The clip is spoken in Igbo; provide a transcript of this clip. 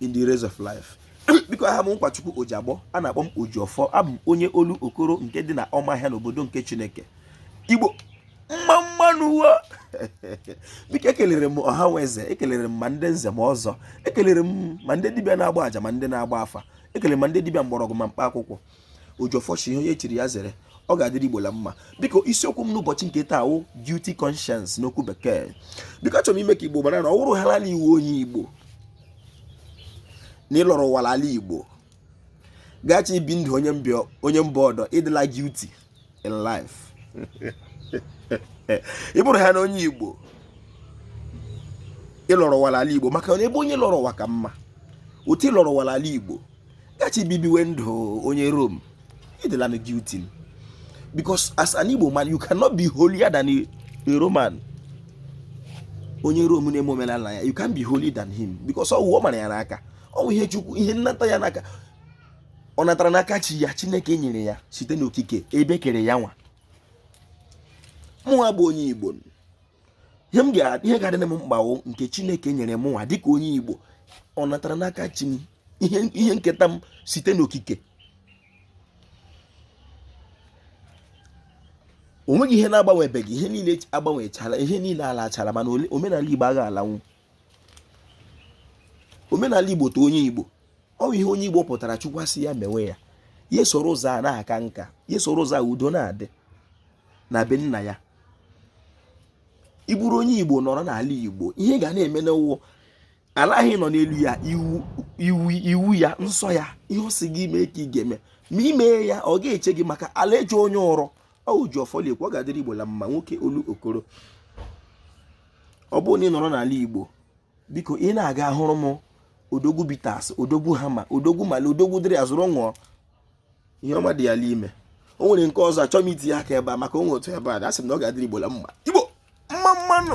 in the race of life biko aha m nkwachukwu ojiagbọ a na-akpọ m ojiọfọ abụ m onye olokoro nke dị na ọmahịa n'obodo nke chineke igbo mma mma nụ wo biko ekelere m ọha nwe eze ekelere m ma ndị nze ma ọzọ ekelere m ma ndị dibịa na-agba aja ma ndị na-agba afa ekelere m ma ndị dibịa mgbọrọgwụ ma mkpa akwụkwọ ojiọfọ shị ihe onye chiri ya zere ọ ga-adịrị igbo la mma biko isiokwu m n'ụbọchị nke taa wụ guilty conscience n'okwu bekee biko achọrọ m ime ka igbo mara na ọ wụrụhaala ị wụ onye igbo na ị lọrọ ụwa ra ala igbo gachi ibi ndụ onye mba ọdọ ị dịla guilty in life ị bụrụhana onye igbo ị lọrọ ụwa ra ala igbo maka na ebe onye lọrọ ụwa ka mma otu ị lọrọ ụwa ra ala igbo gachi bibiwe ndụ onye rome ị dịla na guilty because as an igbo man you cannot be holier than a roman onye rome na-eme omenala ya you can't be holier than him because ọ wụ ọ mara ya n'aka ọ wụ ihe chukwu ihe nnata ya n'aka ọ natara n'aka chi ya chineke nyere ya site n'okike ebe e kere ya nwa mụnwa bụ onye igbo ihe ga-adị m mkpa ọ nke chineke nyere mụnwa dịka onye igbo ọ natara n'aka chi m ihe nketa m site n'okike o nweghị ihe na-agbanwebeghị ihe niile agbanwechala ihe niile alachala mana omenala igbo agha alanwu omenala igbo to onye igbo ọ bụ ihe onye igbo pụtara chukwu asị ya mewe ya ya soro ụzọ a na-aka nka ya soro ụzọ a udo na-adị na be nna ya ị bụrụ onye igbo nọrọ n'ala igbo ihe ị ga na-eme n'ụwa ala ahụ ị nọ n'elu ya iwu ya nsọ ya ihe ọ sị gị mee ka ị ga-eme ma ị mee ya ọ ga-eche gị maka ala eche onye ụrụ ọ wụ ojiọfọ la-ekwu ọ ga-adịrị igbo la mma nwoke olokoro ọ bụrụ na ị nọrọ n'ala igbo biko ị na-aga hụrụ m odogwu bitters odogwu hammer odogwu malay odogwu dịrị a zụrụ ṅụọ ihe ọma dị ya la ime o nwere nke ọzọ achọghị m iti ya aka ebe a maka o nwe otu ebe a asị m na ọ ga-adịrị igbo la mma igbo mma mma nụ